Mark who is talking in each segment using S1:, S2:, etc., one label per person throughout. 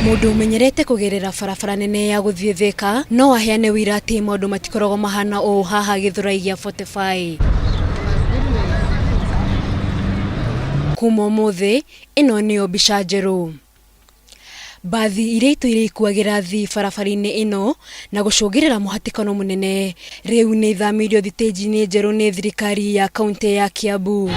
S1: Mũndũ ũmenyerete kũgerera barabara nene ya gũthiĩ Thĩka no aheane ũira atĩ maũndũ matikoragwo mahana ũũ haha Gĩthũrai gĩa 45. Kuma ũmũthĩ, ĩno nĩyo mbica njerũ. Mbathi iria itũ iria ikuagĩra thi barabara-inĩ ĩno na gũcũngĩrĩra mũhatĩkano mũnene rĩu nĩ ithamĩirio thitĩnji-inĩ njerũ nĩ thirikari ya kaunti ya Kiambu.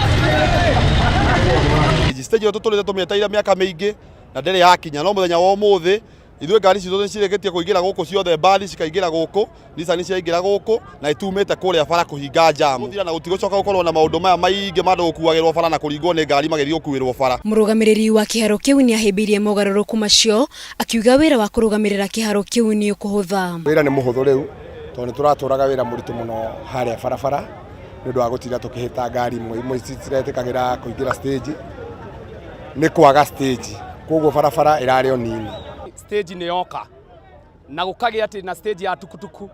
S1: Stage ĩyo tũtũrĩte tũmĩetereire mĩaka mĩingĩ na ndĩrĩ yakinya, no mũthenya wa ũmũthĩ ithuĩ ngari citũ nĩ cirĩkĩtie kũingĩra gũkũ ciothe, mbathi cikaingĩra gũkũ. Nisa nĩ ciaingĩra gũkũ na itumĩte kũrĩa bara kũhinga njamu na gũtigũcoka gũkorwo na maũndũ maya maingĩ ma andũ gũkuagĩrwo bara na kũringwo nĩ ngari magĩthiĩ gũkuĩrwo bara. Mũrũgamĩrĩri wa kĩharo kĩu nĩ ahĩmbĩirie mogarũrũku macio, akiuga wĩra wa kũrũgamĩrĩra kĩharo kĩu nĩ ũkũhũtha. Wĩra nĩ mũhũthũ rĩu tondũ nĩ tũratũraga wĩra mũritũ mũno harĩa barabara nĩ ũndũ wa gũtinda tũkĩhĩta ngari imwe imwe citiretĩkagĩra kũingĩra stage nĩ kwaga stage, kwoguo barabara ĩrarĩ o nini. Stage nĩ yoka. na gũkagĩa atĩ na stage ya tukutuku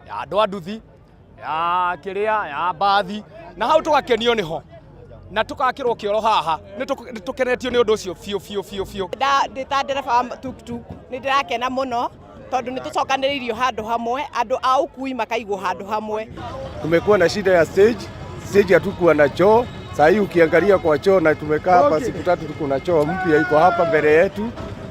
S1: ya andũ a nduthi ya kĩrĩa ya mbathi na hau tũgakenio nĩho na tũgakĩrwo kĩoro haha nĩ tũk- nĩ tũkenetio nĩ ũndũ ũcio biũ biũ biũ biũ Nda- ndĩ ta ndereba wa tuktuk nĩ ndĩrakena mũno tondũ nĩ tũcokanĩrĩirio handũ hamwe andũ a ũkui makaigwo handũ hamwe Tumekuwa na shida ya stage, stage hatukuwa na choo. Saa hii ukiangalia kwa choo na tumekaa hapa siku tatu, tuko na choo mpya iko hapa mbele yetu.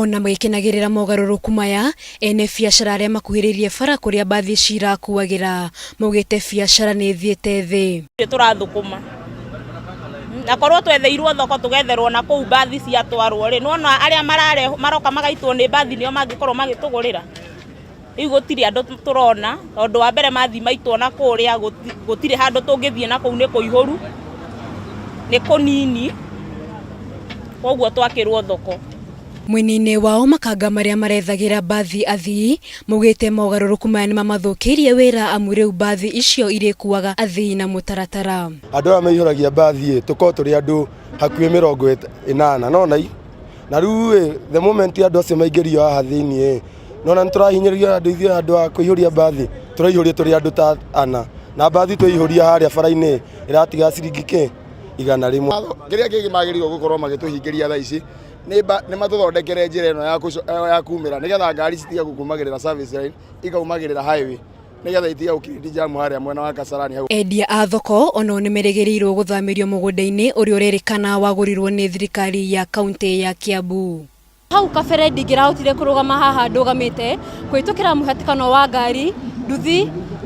S1: Ona magĩkenagĩrĩra mogarũrũku maya, ene biacara arĩa makuhĩrĩirie bara kũrĩa mbathi ici irakuagĩra maugĩte biacara nĩ ĩthiĩte thĩ. tũrathũkũma na korwo twetheirwo thoko tũgetherwo na kũu mbathi ciatwarwo rĩ nona arĩa maroka magaitwo nĩ mbathi nĩo mangĩkorwo magĩtũgũrĩra Rĩu gũtirĩ andũ tũrona tondũ wa mbere mathi maitũ ona kũrĩa gũtirĩ handũ tũngĩthiĩ na kũu nĩ kũihũru nĩ kũnini koguo twakĩrwo thoko. Mwena-inĩ wao makanga marĩa marethagĩra mbathi athii maugĩte mogarũrũku maya nĩmamathũkĩirie wĩra amu rĩu mbathi icio irĩkuaga athii na mũtaratara. Andũ aya maihũragia mbathi ĩ tũkoragwo tũrĩ andũ hakuhĩ mĩrongo ĩnana nona na rĩu ĩ the moment andũ acio maingĩrio haha thĩiniĩ ĩ nona nĩtũrahinyĩrĩrio andũ ithuĩ handũ wa kũihũria mbathi tũraihũrio tũrĩ andũ ta ana na mbathi tũihũria harĩa bara-inĩ ĩratiga ciringi kĩ igana rĩmwe kĩrĩa kĩngĩ magĩrĩirwo gũkorwo magĩtũhingĩria thaa ici nĩ mba- nĩ matũthondekere njĩra ĩno ya kũco- eh, ya kumĩra nĩgetha ngari citige gũkumagĩrĩra service line ikaumagĩrĩra highway nĩgetha itige gũkirindi jamu harĩa mwena wa kasarani hau Endia a thoko onao nĩ merĩgĩrĩirwo gũthamĩrio mũgũnda-inĩ ũrĩa ũrerĩkana wagũrirwo nĩ thirikari ya kaunti ya Kiambu. Hau kabere ndingĩrahotire kũrũgama haha ndũgamĩte kũhĩtũkĩra mũhatĩkano wa ngari, nduthi,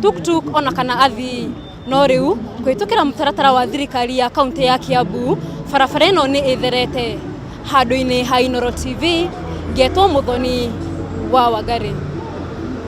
S1: tuktuk ona kana athii. No rĩu kũhĩtũkĩra mũtaratara wa thirikari ya kaunti ya Kiambu, barabara ĩno nĩ ĩtherete. Handũ-inĩ ha Inooro TV, ngetwo Mũthoni wa Wangari.